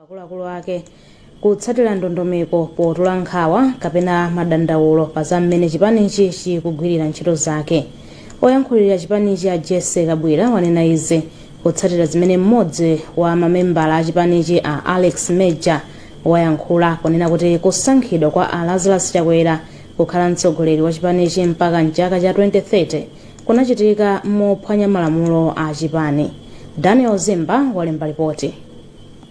akuluakulu ake kutsatira ndondomeko potula nkhawa kapena madandaulo pa za mmene chipanichi chikugwirira ntchito zake oyankhulira chipanichi a jessie kabwila wanena izi kutsatira zimene mmodzi wa mamembala a chipanichi a alex major wayankhula ponena kuti kusankhidwa kwa a lazarus chakwera kukhala mtsogoleri wa chipanichi mpaka mchaka cha 2030 kunachitika mophwanya malamulo a chipani daniel zimba walemba lipoti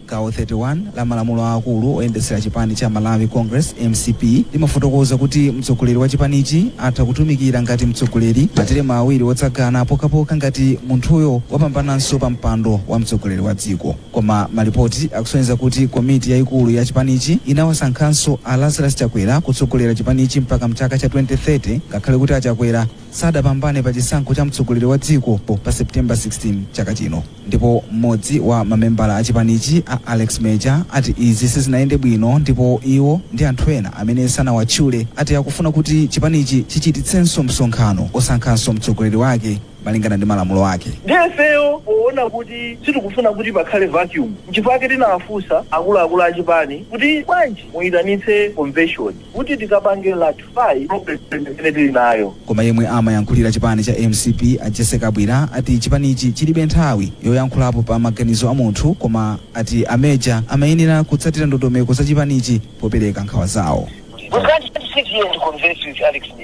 Gawo 31 la malamulo aakulu oyendetsera chipani cha Malawi Congress, mcp, limafotokoza kuti mtsogoleri wa chipanichi atha kutumikira ngati mtsogoleri materemu awiri otsatizana pokhapokha ngati munthuyo wapambananso pa mpando wa mtsogoleri wa dziko. Koma malipoti akusonyeza kuti komiti yaikulu ya chipanichi inawasankhanso a Lazarus Chakwera kutsogolera chipanichi mpaka m'chaka cha 2030 ngakhale kuti a Chakwera sadapambane pa chisankho cha mtsogoleri wa dziko pa September 16 chaka chino ndipo m'modzi wa mamembala a chipanichi a Alex Major ati izi sizinayende bwino ndipo iwo ndi anthu ena amene sanawatchule ati akufuna kuti chipanichi chichititsenso msonkhano osankhanso mtsogoleri wake malingana ndi malamulo ake. Ndiye ifeyo poona kuti sitikufuna kuti pakhale vacuum nchifukwa chake tinawafunsa akuluakulu a chipani kuti bwanji muitanitse convention. kuti tikapange rectify problem imene tili nayo. Koma yemwe amayankhulira chipani cha mcp a Jessie Kabwila ati chipanichi chilibe nthawi yoyankhulapo pa maganizo a munthu koma ati a Major amayenera kutsatira ndondomeko za chipanichi popereka nkhawa zawo. We can't sit here and converse with Alex Major.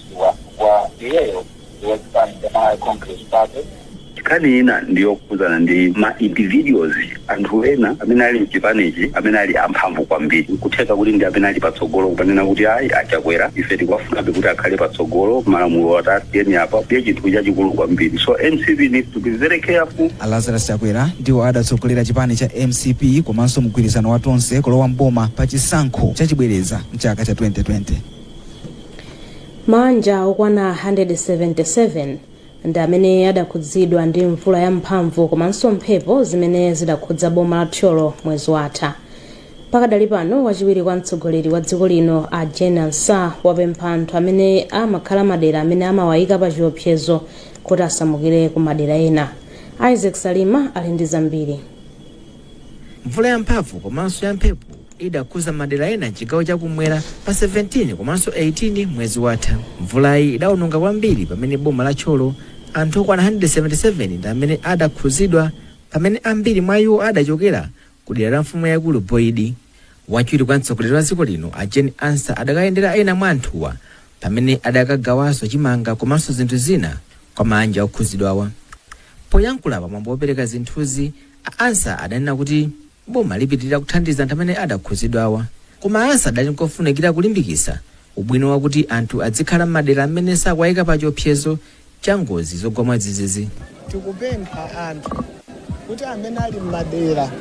kudziwa chifukwa iyeyo ndi wa chipani cha Malawi Congress Party. nkhani ina ndi yokhudzana ndi ma individuals anthu ena amene ali mchipanichi amene ali amphamvu kwambiri nkutheka kuti ndi amene ali patsogolo kumanena kuti ayi a chakwera ife tikuwafunabe kuti akhale patsogolo malamulo tasiyani apa ndiye chinthu chachikulu kwambiri so mcp needs to be very careful a lazarus chakwera ndiwo adatsogolera chipani cha mcp komanso mgwirizano wa tonse kulowa mboma pa chisankho chachibwereza mchaka cha 2020 maanja okwana 177 ndi amene adakhudzidwa ndi mvula yamphamvu komanso mphepo zimene zidakhudza boma la thyolo mwezi watha pakadali pano wachiwiri kwa mtsogoleri wa dziko lino a jane ansah wapempha anthu amene amakhala madera amene amawayika pa chiopsezo kuti asamukire ku madera ena isaac salima ali ndi zambiri Mvula yamphamvu komanso yamphepo idakhuza madera ena mchigawo chakumwera pa 17 komanso 18 mwezi watha. Mvulayi idaononga kwambiri pamene boma la Thyolo anthu okwana 177 ndi amene adakhuzidwa pamene ambiri mwa iwo adachokera ku dera la mfumu yaikulu Boidi. Wachiwiri kwa mtsogoleri wa dziko lino a Jane Ansah adakayendera ena mwa anthuwa pamene adakagawanso chimanga komanso zinthu zina kwa maanja okhuzidwawa. Poyankhula pa mwambo wopereka zinthuzi, A Ansah adanena kuti boma lipitilira kuthandiza anthu amene adakhudzidwawa koma a Ansah adali nkofunikira kulimbikitsa ubwino wakuti anthu adzikhala mmadera mmene sakuwayika pa chiopsezo cha ngozi zogwa mwadzidzidzi. tikupempha anthu kuti amene ali mmadera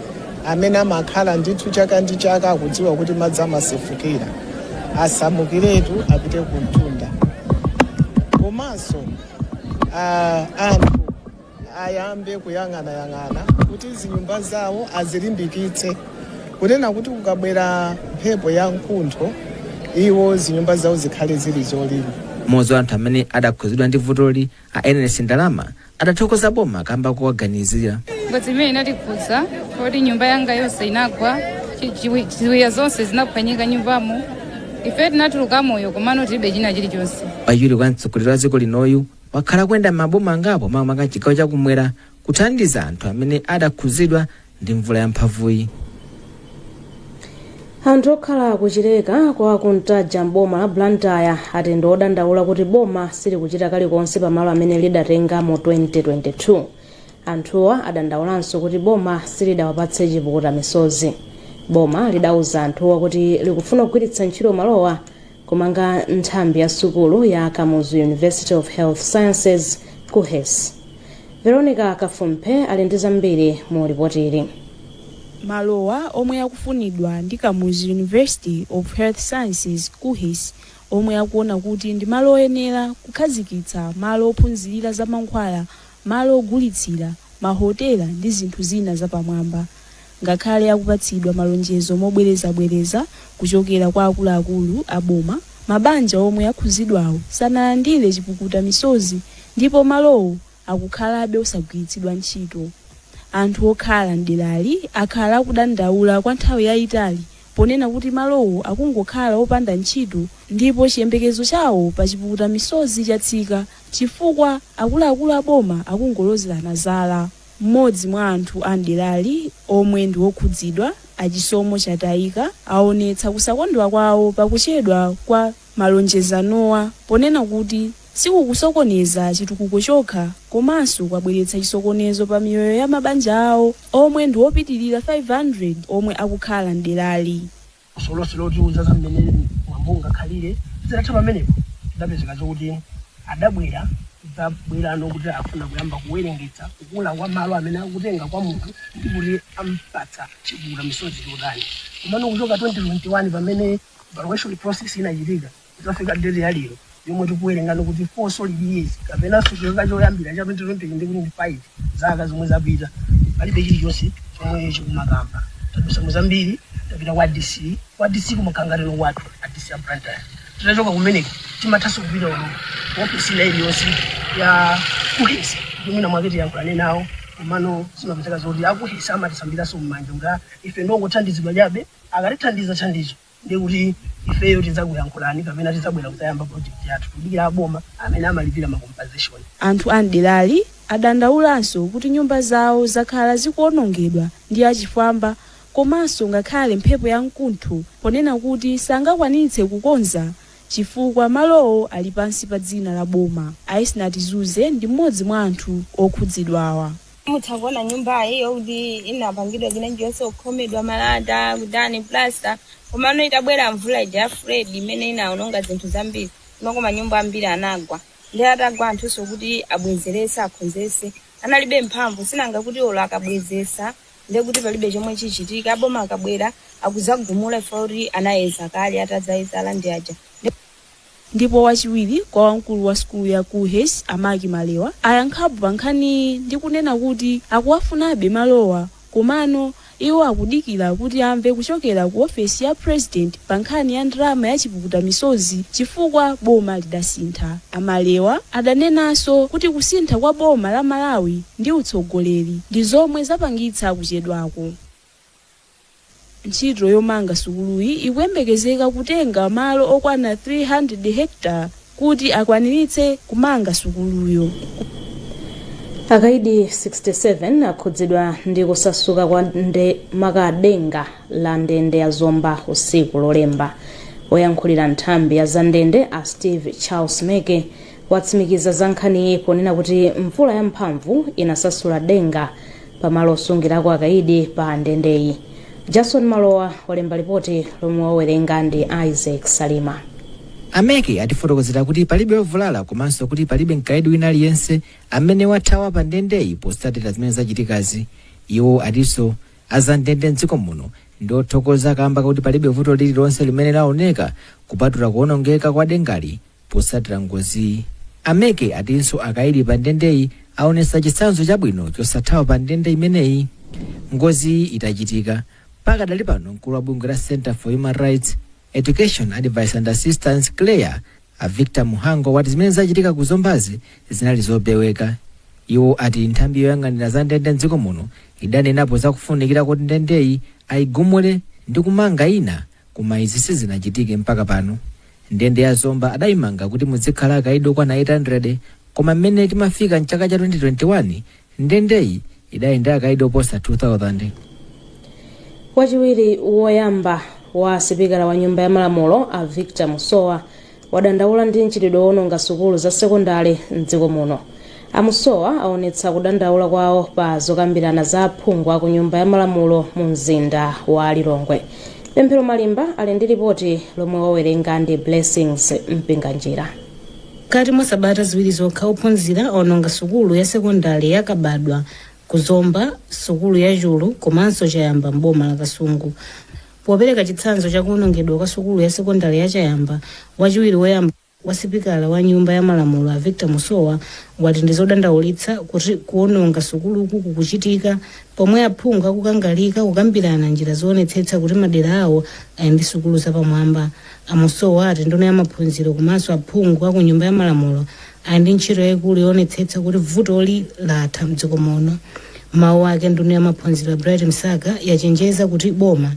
amene amakhala ndithu chaka ndi chaka akudziwa kuti madzi amasefukira asamukiretu apite kumtunda komanso ah, anthu ayambe kuyang'anayang'ana kuti zinyumba zawo azilimbikitse kunena kuti kukabwera mphepo ya mkuntho iwo zinyumba zawo zikhale zili zolimba mmodzi wa anthu amene adakhudzidwa ndi vutoli a Ernest Ndalama adathokoza boma kamba kowaganizira ngozi imene inatikhudza kuti nyumba yanga yonse inagwa chi- chiwi- ziwiya zonse zinaphwanyika nyumbamo ife tinatuluka moyo komano tilibe china chilichonse wachiwiri kwa mtsogoleri wa dziko linoyu wakhala akuyenda m'maboma angapo makamaka m'chigawo chakumwera kuthandiza anthu amene adakhudzidwa ndi mvula yamphamvuyi anthu okhala ku Chileka kwa Kuntaja m'boma la Blantyre ati ndi odandaula kuti boma silikuchita kalikonse pamalo amene lidatenga mu 2022 anthuwa adandaulanso kuti boma silidawapatse chipukuta misozi boma lidauza anthuwa kuti likufuna kugwiritsa ntchito malowa Kumanga nthambi ya sukulu ya Kamuzu University of Health Sciences, KUHeS. Veronica Kafumphe ali ndi zambiri mu lipotili. Malowa, omwe akufunidwa ndi Kamuzu University of Health Sciences, KUHeS, omwe akuona kuti ndi malo oyenera kukhazikitsa malo ophunzirira za mankhwala, malo ogulitsira, mahotela ndi zinthu zina zapamwamba. ngakhale akupatsidwa malonjezo mobwerezabwereza kuchokera kwa akuluakulu a boma, mabanja omwe akhudzidwawo sanalandire chipukuta misozi ndipo malowo akukhalabe osagwiritsidwa ntchito. Anthu okhala m'derali akhala akudandaula kwa nthawi yayitali ponena kuti malowo akungokhala opanda ntchito ndipo chiyembekezo chawo pa chipukuta misozi chatsika chifukwa akuluakulu a boma akungolozerana zala. M'modzi mwa anthu a m'derali omwe ndi wokhudzidwa, a Chisomo Chatayika, awonetsa kusakondwa kwawo pa kuchedwa kwa malonjezowa ponena kuti sikukusokoneza chitukuko chokha komanso kwabweretsa chisokonezo pa miyoyo ya mabanja awo omwe ndi opitilira 500 omwe akukhala m'derali. funso lonse lotiuza za mmene mwambo ungakhalire zitatha pamenepo zidapezeka zokuti adabwera zabwerano kuti afuna kuyamba kuwerengetsa kukula kwa malo amene akutenga kwa munthu ndi kuti ampatsa chipukuta misozi chotani komano kuchoka 2021 pamene valuation process inachitika Kudzafika deti ya lero yomwe tikuwerenga ndikuti 4 solid years kapena chaka choyambira cha 2020 ndi kuti ndi 5 zaka zomwe zapita palibe chilichonse chomwe chikumakamba tadutsa mu zambiri tapita kwa dc kwa dc kumakhangatiro kwathu a dc a Blantyre titachoka kumeneko timathanso kupita ku ofisi ina iliyonse ya kuhesi kuti mwina mwake tiyankhulane nawo komano zimapezeka zoti akuhesi amatisambiranso m'manja kuti "Ah, ife ndongothandizidwa chabe akatithandiza thandizo ndi kuti ifeyo tidzakuyankhulani kapena tidzabwera kudzayamba project yathu tikudikira aboma amene amalipira ma compensation. Anthu a m'derali adandaulanso kuti nyumba zawo zakhala zikuonongedwa ndi achifwamba komanso ngakhale mphepo ya mkuntho ponena kuti sangakwanitse kukonza chifukwa malowo ali pansi pa dzina la boma. A Esnart Zuze ndi m'modzi mwa anthu okhudzidwawa. mutha kuona nyumbayi yoti inapangidwa chinachilichonse kukhomedwa malata kudani plasta komano itabwera mvula ija ya freddy imene inaononga zinthu zambiri makamaka manyumba ambiri anagwa ndi atagwa anthunso kuti abwezerese akhonzese analibe mphamvu sinanga kuti olo akabwezesa ndi kuti palibe chomwe chichitika aboma akabwera akuzagumula chifukwa choti anayeza kale atazayeza a land aja Ndipo wachiwiri kwa wamkulu wa sukulu ya KuHes a Mac Malewa ayankhapo pa nkhaniyi ndi kunena kuti akuwafunabe malowa komano iwo akudikira kuti amve kuchokera ku ofesi ya President pa nkhani ya ndalama ya chipukuta misozi chifukwa boma lidasintha. A Malewa adanenanso kuti kusintha kwa boma la Malawi ndi utsogoleri ndi zomwe zapangitsa kuchedwaku. Ntchito yomanga sukuluyi ikuyembekezeka kutenga malo okwana 300 hectare kuti akwaniritse kumanga sukuluyo. Akaidi 67 akhudzidwa ndi kusasuka kwa ndende maka denga la ndende ya Zomba usiku wa lolemba. Oyankhulira nthambi ya zandende a Steve Charles Meke watsimikiza za nkhaniyi ponena kuti mvula yamphamvu inasasula denga pamalo osungirako akaidi pa ndendeyi jason malowa walemba lipoti lomwe wawerenga ndi isaac salima a meke atifotokozera kuti palibe ovulala komanso kuti palibe mkaidi wina aliyense amene wathawa pa ndendeyi potsatira zimene zachitikazi iwo atinso azandende mdziko muno ndi othokoza kamba koti palibe vuto lililonse limene laoneka kupatula kuonongeka kwa dengali Potsatira ngoziyi, a Meke atinso akaidi pa ndendeyi aonetsa chitsanzo chabwino chosathawa pa ndende imeneyi ngoziyi itachitika. Pakadali pano mkulu wa bungwe la Centre for Human Rights, Education, Advice and Assistance, CHREAA, a Victor Mhango wati zimene zachitika ku Zombazi zinali zopeweka. Iwo ati nthambi yoyang'anira za ndende mdziko muno idanenapo za kufunikira koti ndendeyi ayigumule ndi kumanga ina Koma izi sizinachitike mpaka pano. Ndende ya Zomba adayimanga kuti mudzikhala akaidi okwana 800 koma mmene timafika m'chaka cha 2021, ndendeyi idali ndi akaidi oposa 2,000. Wachiwiri woyamba wa sipikala wa nyumba ya malamulo a Victor Musowa wadandaula ndi mchitidwe woononga sukulu za sekondale m'dziko muno. A Musowa aonetsa kudandaula kwawo pa zokambirana za aphungu aku nyumba ya malamulo mu mzinda wa Lilongwe. Pemphero Malimba ali ndi lipoti lomwe wawerenga ndi Blessings Mpinganjira. Mkati mwa sabata ziwiri zokha ophunzira aononga sukulu ya sekondale ya Kabadwa ku Zomba, sukulu ya Chulu komanso Chayamba m'boma la Kasungu. Popereka chitsanzo cha kuonongedwa kwa sukulu ya sekondale ya Chayamba, wachiwiri woyamba wa sipikala wa nyumba ya malamulo a Victor Musowa wati ndi zodandaulitsa kuti kuononga sukuluku kukuchitika pomwe aphungu akukangalika kukambirana njira zoonetsetsa kuti madera awo ali ndi sukulu zapamwamba. A Musowa ati nduna ya maphunziro komanso aphungu a ku nyumba ya malamulo ali ndi ntchito yaikulu yoonetsetsa kuti vutoli latha m'dziko muno. M'mawu ake, nduna ya maphunziro a Bright Msaka yachenjeza kuti boma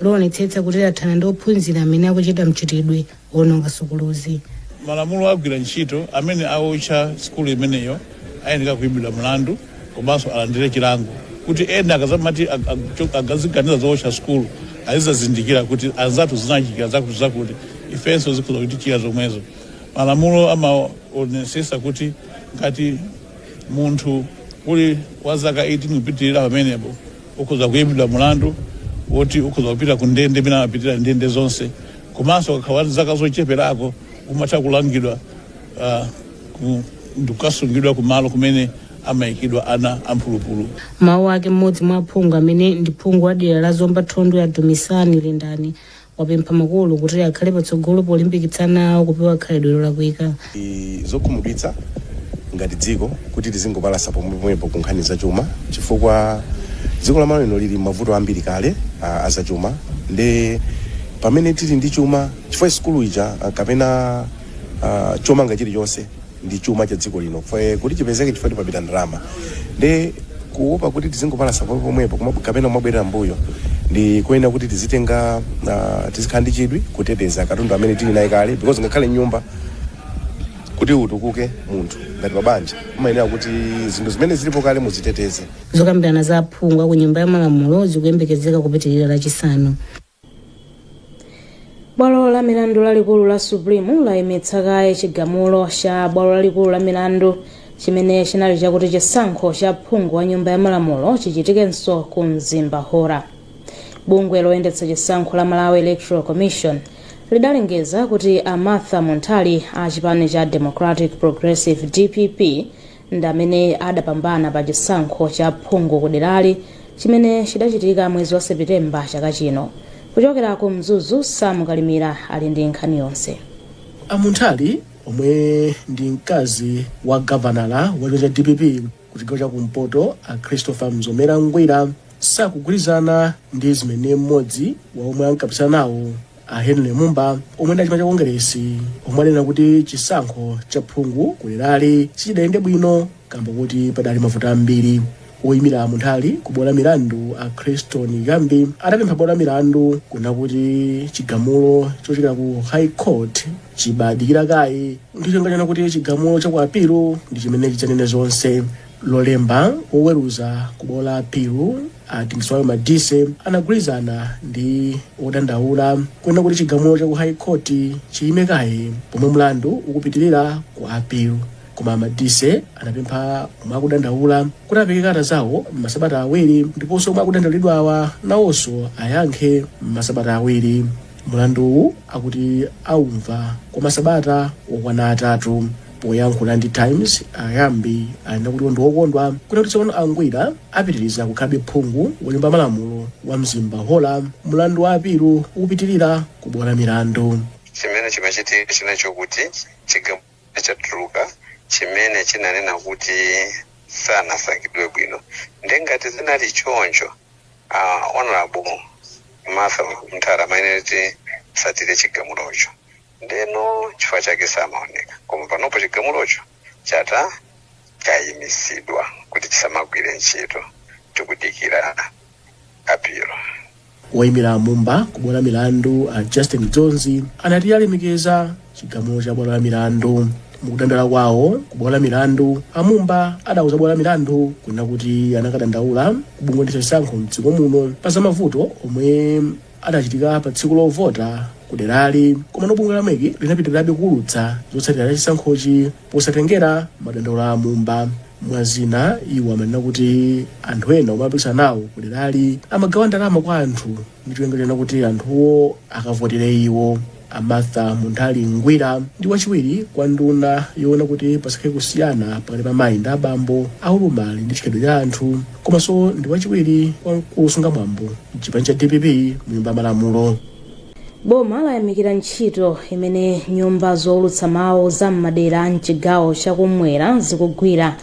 lionetsetsa kuti lathana ndi ophunzira amene akuchita mchitidwe woononga sukuluzi. malamulo agwira ntchito amene aotcha sukulu imeneyo ayenera kuimbidwa mlandu komanso alandire chilango kuti ena akazamati ag- ag- cho- akaziganiza zootcha sukulu azizazindikira kuti anzathu zinawachitikira zakuti zakuti ifenso zikhoza kutichitikira zomwezo Malamulo amaonetsetsa kuti ngati munthu uli wa zaka 18 kupitirira pamenepo ukhoza kuimbidwa mulandu woti ukhoza kupita ku ndende imene amapitira ndende zonse komanso ukakhala wa zaka zocheperako umatha kulangidwa ah, ku- ndi kukasungidwa kumalo kumene amayikidwa ana amphulupulu. M'mawu ake mmodzi mwa aphungu amene ndi phungu wa dera la Zomba Thondwe a Dumisani Lindani wapempha makolo kuti akhale patsogolo polimbikitsa ana awo kupewa khalidwe lolakwika. Ndi zokhumudwitsa ngati dziko kuti tizingopalasa pomwepomwepo ku nkhani zachuma chifukwa dziko la Malawi lino lili m'mavuto ambiri kale a, a zachuma nde pamene tili ndi chuma chifukwa sukulu ija ah, kapena ah, chomanga chilichonse ndi chuma cha dziko lino kuti chipezeke chifukwa pamapita ndalama nde kuopa kuti tizingopalasa pomwepomwepo kuma- kapena kumabwerera mbuyo ndi kuyenera kuti tizitenga ah, tizikhala ndi chidwi kuteteza katundu amene tili naye kale because ngakhale nyumba kuti utukuke munthu ngati pabanja umayenera kuti zinthu zimene zilipo kale muziteteze zokambirana za aphungu aku nyumba ya malamulo zikuyembekezeka kupitirira Lachisanu bwalo la milandu lalikulu la supreme layimitsa kaye chigamulo cha bwalo lalikulu la milandu chimene chinali chakuti chisankho cha phungu wa nyumba ya malamulo chichitikenso ku mzimba hora bungwe loyendetsa chisankho la malawi electoral commission lidalengeza kuti a martha munthali a chipani cha democratic progressive dpp ndi amene adapambana pa chisankho cha phungu kuderali chimene chidachitika mwezi wa sepitemba chaka chino kuchokera ku mzuzu sam kalimira ali ndi nkhani yonse a munthali omwe ndi mkazi wa gavanala wa chipani cha dpp ku chigawo cha kumpoto a christopher mzomera ngwira sakugwirizana ndi zimene mmodzi wa omwe ankapikisana nawo A Henry Mumba omwe ndi a chipani cha Kongeresi omwe adanena kuti chisankho cha phungu ku derali sichidayende bwino kamba kuti padali mavuto ambiri. Woyimira a Munthali ku bwalo la milandu a Christon Ghambi adapempha bwalo la milandu kunena kuti chigamulo chochokera ku High Court chibadikira kaye ndi cholinga chonena kuti chigamulo cha ku apilu ndi chimene chidzanene zonse. Lolemba woweruza ku bwalo la apilu A Dingiswayo Madise anagwirizana ndi odandaula kunena kuti chigamulo cha ku High Court chiyime kaye pomwe mlandu ukupitirira ku appeal. Koma Madise anapempha omwe akudandaula kuti apereke kalata zawo m'masabata awiri ndiponso omwe akudandaulidwawa nawonso ayankhe m'masabata awiri. Mlanduwu akuti aumva kwa masabata okwana atatu. Poyankhula ndi Times, a Ghambi anena kuti ndi okondwa kuona kuti tsopano a Ngwira apitiriza kukhalabe phungu wa nyumba ya malamulo wa Mzimba Hora mlandu wa apilu ukupitirira ku bwalo la milandu. chimene chimachitika nchina chakuti chigamulo chatuluka chimene chinanena kuti sanasankhidwe bwino nde ngati zinali choncho uh, honorable martha munthali amayenera kuti atsatire chigamulocho Ndeno chifukwa chake samaoneka koma panopo chigamulocho chata chayimitsidwa kuti chisamagwire ntchito tikudikira apilu. Woimira a Mumba ku bwalo la milandu a Justin Dzonzi anati alemekeza chigamulo cha bwalo la milandu. Mukudandaula kwawo ku bwalo la milandu, a Mumba adauza bwalo la milandu kunena kuti anakadandaula ku bungwe loyendetsa chisankho mdziko muno pa zamavuto omwe adachitika pa tsiku lovota ku derali. Komano bungwe la mec linapitirirabe kuulutsa zotsatira za chisankhochi posatengera madandaulo a mumba. Mwa zina, iwo amanena kuti anthu ena omwe amapikisana nawo ku derali amagawa ndalama kwa anthu ndi cholinga chonena kuti anthuwo akavotere iwo. A Martha Munthali Ngwira ndi wachiwiri kwa nduna yoona kuti pasakhale kusiyana pakati pa amayi ndi abambo, ulumali ndi chikhalidwe cha anthu komanso ndi wachiwiri kwa mkulu wosunga mwambo m'chipani cha dpp mu nyumba ya malamulo. boma layamikira ntchito imene nyumba zoulutsa mawu za m'madera a mchigawo chakumwera zikugwira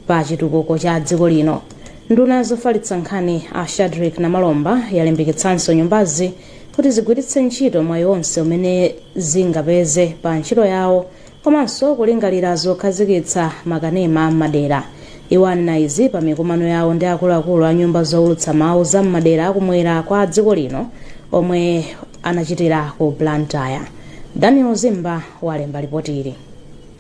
pa chitukuko cha dziko lino nduna ya zofalitsa nkhani a shadric namalomba yalimbikitsanso nyumbazi kuti zigwiritse ntchito mwayi wonse umene zingapeze pa ntchito yawo komanso kulingalira zokhazikitsa makanema a m'madera iwo anena izi pa mikumano yawo ndi akuluakulu a nyumba zowulutsa mawu za m'madera akumwera kwa dziko lino omwe anachitira ku blantyre daniel zimba walemba lipoti ili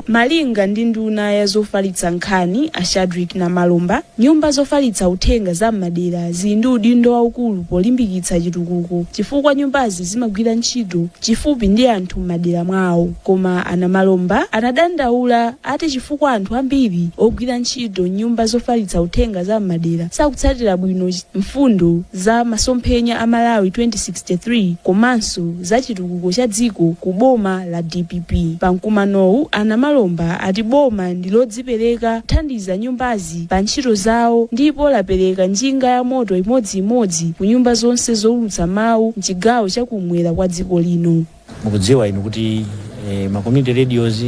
Malinga ndi nduna ya zofalitsa nkhani a Shadric Namalomba, nyumba zofalitsa uthenga za m'madera zili ndi udindo waukulu polimbikitsa chitukuko chifukwa nyumbazi zimagwira ntchito chifupi ndi anthu m'madera mwawo. Koma a Namalomba anadandaula ati chifukwa anthu ambiri ogwira ntchito m'nyumba zofalitsa uthenga za m'madera sakutsatira bwino mfundo za masomphenya a Malawi 2063 komanso za chitukuko cha dziko ku boma la dpp. Pa mkumanowu, a Namalomba ati boma ndi lodzipereka kuthandiza nyumbazi pa ntchito zawo ndipo lapereka njinga ya moto imodziimodzi ku nyumba zonse zoulutsa mawu mchigawo cha kumwera kwa dziko lino. mukudziwa inu kuti eh, ma community radios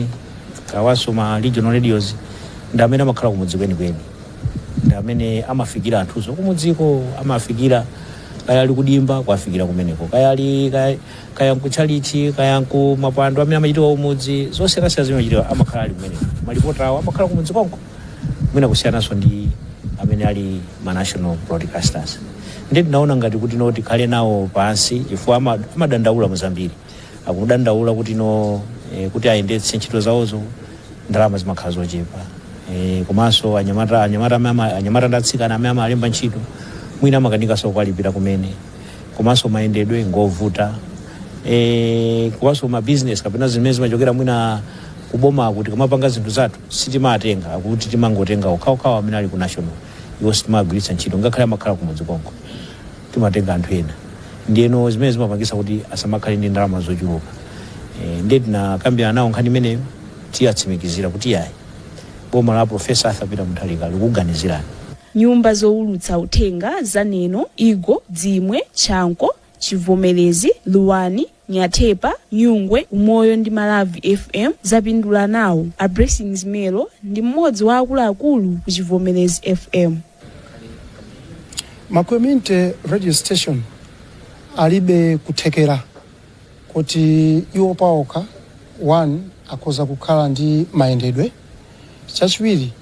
komanso ma regional radios ndi amene amakhala kumudzi kwenikweni ndi amene amafikira anthuso kumudziko amafikira kaya ali kudimba kuwafikira kumeneko kaya ali kaya, kaya nkutchalichi kaya nkumapwando amene amachitika kumudzi zosiyanasiyana zimene amachitika amakhala ali kumeneko malipota awo amakhala kumudzi konko mwina kusiyananso ndi amene ali ma national broadcasters ndiye tinaona ngati kuti no tikhale nawo pansi chifukwa ama- amadandaula mu zambiri akudandaula kuti no e, kuti ayendetse ntchito zawozo ndalama zimakhala zochepa e, komanso anyamata anyamata amene ama- anyamata ndi atsikana amene amalemba ntchito mwina amakanikanso kuwalipira kumene komanso mayendedwe ngovuta e, komanso mabizinesi kapena zimene zimachokera mwina kuboma kuti tikamapanga zinthu zathu sitimatenga akuti timangotenga okhaokhawo amene ali ku national iwo sitimagwiritsa ntchito ngakhale amakhala kumudzi konko timatenga anthu ena ndiyeno zimene zimapangisa kuti asamakhale ndi ndalama zochuluka e, ndiye tinakambirana nawo nkhani imeneyo tawatsimikizira kuti yayi boma la profesa arthur peter mutharika likuganizirani nyumba zowulutsa uthenga za neno igo dzimwe chanco chivomerezi luwani Nyathepa, Nyungwe, Umoyo ndi Maravi FM zapindula nawo. A Blessings Melo ndi mmodzi wa akuluakulu ku Chivomerezi FM. ma community radio station alibe kuthekera kuti iwo paokha one akhoza kukhala ndi mayendedwe chachiwiri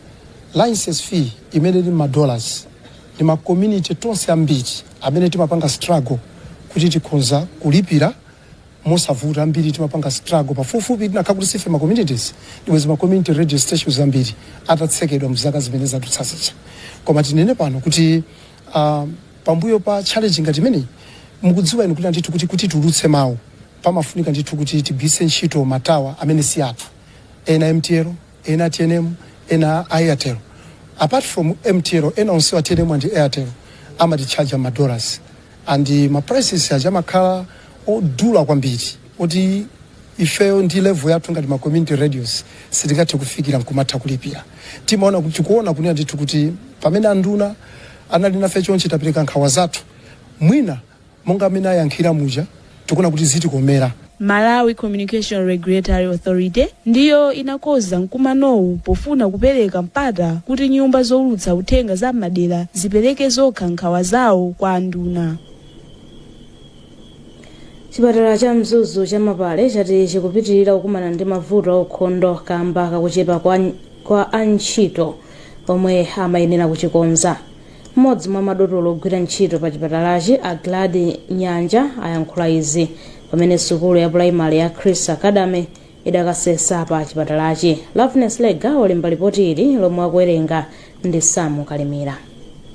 license fee imene ili mma dollars ndi ma community tonse ambiri amene timapanga struggle kuti tikhonza kulipira mosavuta ambiri timapanga struggle pafupifupi chinakhala kuti sife ma communities ndibwezi ma community radio stations ambiri atatsekedwa mzaka zimene zadutsa zija koma tinene pano kuti uh, pambuyo pa challenge ngati imeneyi mukudziwa inu kuti ndithu kuti kuti tulutse mawu pamafunika ndithu kuti tigwiritse ntchito matawa amene si athu ena mtl ena tnm ena airtel apart from mtl ena onsewa tnm and airtel amatitchaja ma dollars and ma prices ake amakhala odula kwambiri oti ifeyo ndi level yathu ngati ma community radios sitingathe kufikira nkumatha kulipira Tikuona kuti tikuona kunena ndithu kuti pamene anduna anali nafe chonchi tapereka nkhawa zathu mwina Monga mmene ayankhira muja tikuona kuti zitikomera. Malawi Communication Regulatory Authority ndiyo inakonza mkumanowu pofuna kupereka mpata kuti nyumba zoulutsa uthenga za m'madera zipereke zokha nkhawa zawo kwa anduna. chipatala cha mzuzu cha mapale chati chikupitirira kukumana ndi mavuto aukhondo kamba kakuchepa kwa antchito omwe amayenera kuchikonza M'modzi mwa madotolo ogwira ntchito pa chipatalachi a Gladys Njaya ayankhula izi pamene sukulu ya pulayimale ya Chris Academy idakasesa pa chipatalachi. Loveness Lega walemba lipoti ili lomwe akuwerenga ndi Samu Kalimira.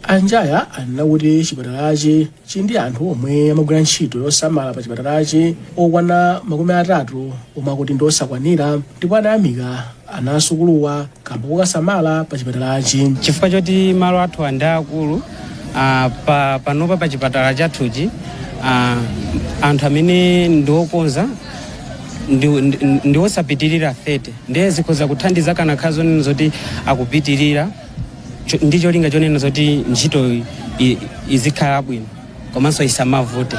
A Njaya anena kuti chipatalachi Chili ndi anthu omwe amagwira ntchito yosamala pa chipatalachi okwana makumi atatu omwe akuti ndi osakwanira ndipo anayamika ana asukuluwa kamba kokasamala pa chipatalachi. chifukwa choti malo athu ndi akulu uh, pa, panopa pa chipatala chathuchi uh, anthu amene ndiokonza ndiwosapitirira 30 ndiye zikhoza kuthandiza kunakakhala zonena zoti akupitirira ndi cholinga chonena zoti ntchito i- izikhala bwino komanso isamavute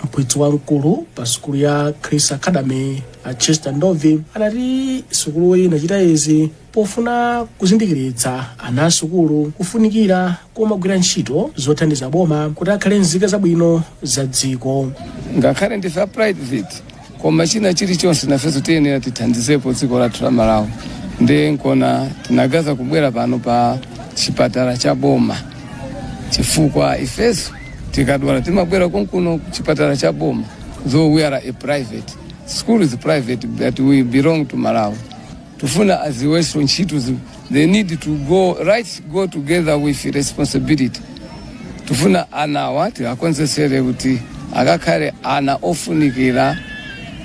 mphunzitsi wamkulu pa sukulu ya chris academy a chester ndovi adati sukuluyi inachita izi pofuna kuzindikiritsa ana asukulu kufunikira komagwira ntchito zothandiza boma kuti akhale nzika zabwino za dziko ngakhale ndife a private koma china chilichonse nafenso tiyenera tithandizepo dziko lathu la malawi ndiye nkona tinaganiza kubwera pano pa chipatala cha boma chifukwa ifeso tikadwala timabwera konkuno ku chipatala cha boma though we are a private school is private but we belong to malawi Tufuna aziweso ntchito they need to go together with responsibility tufuna anawa tiwakonzesere kuti akakhale ana ofunikira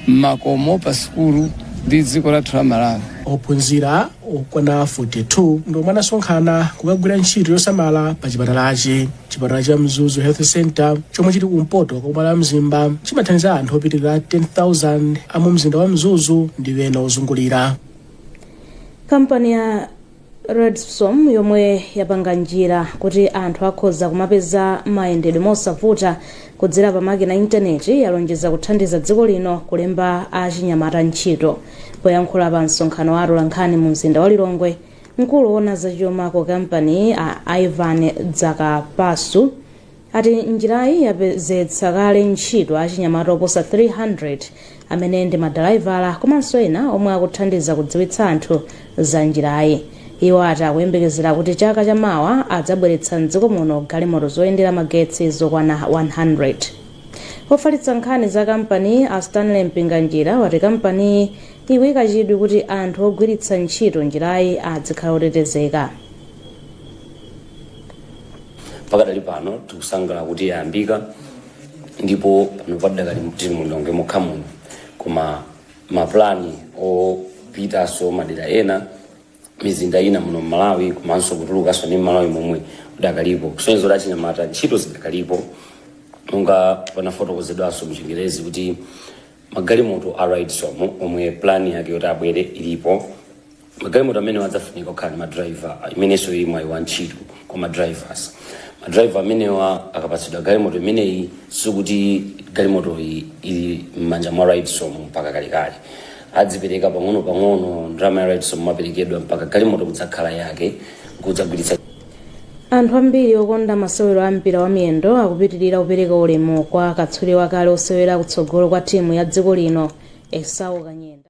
mmakomo pa sukulu ndi dziko lathu la malawi ophunzira okwana 42 ndi omwe anasonkhana kukagwira ntchito yosamala pa chipatalachi chipatala cha mzuzu health center chomwe chili kumpoto kwa boma la mzimba chimathandiza anthu opitirira 10000 a mu mzinda wa mzuzu ndi ena ozungulira kampani ya redsom yomwe yapanga njira kuti anthu akhoza kumapeza mayendedwe mosavuta kudzera pa makina intaneti yalonjeza kuthandiza dziko lino kulemba achinyamata ntchito poyankhula pa msonkhano wa atolankhani mu mzinda wa lilongwe Mkulu owona za chuma ku kampaniyi a Ivan Dzakapasu ati njirayi yapezetsa kale ntchito achinyamata oposa 300 amene ndi madalaivala komanso ena omwe akuthandiza kudziwitsa anthu za njirayi. Iwo ati akuyembekezera kuti chaka cha mawa adzabweretsa m'dziko muno galimoto zoyendera magetsi zokwana 100. Ofalitsa nkhani za kampaniyi a Stanley Mpinganjira wati kampaniyi ikuika chidwi kuti anthu ogwiritsa ntchito njirayi adzikhala otetezeka. Pakadali pano tikusangalala kuti yayambika ndipo pano padakali tili mu Lilongwe mokha muno koma mapulani opitanso madera ena mizinda ina muno m'Malawi komanso kutulukanso ndi m'Malawi momwe udakalipo kusonyeza kuti achinyamata ntchito zidakalipo monga panafotokozedwanso mchingerezi kuti Magalimoto a Redsom omwe plan yake yoti abwere ilipo. Magalimoto amenewa adzafunika kukhala ndi ma driver imenenso ili mwayi wa ntchito kwa ma drivers. Ma driver amenewa akapatsidwa galimoto imeneyi sikuti galimotoyi ili m'manja mwa Redsom mpaka kalekale. Adzipereka pang'ono pang'ono ndalama ya Redsom imaperekedwa mpaka galimoto kudzakhala yake kudzagwiritsa anthu ambiri okonda masewero a mpira wa miyendo akupitirira kupereka ulemu kwa katswiri wakale osewera kutsogolo kwa timu ya dziko lino esau kanyenda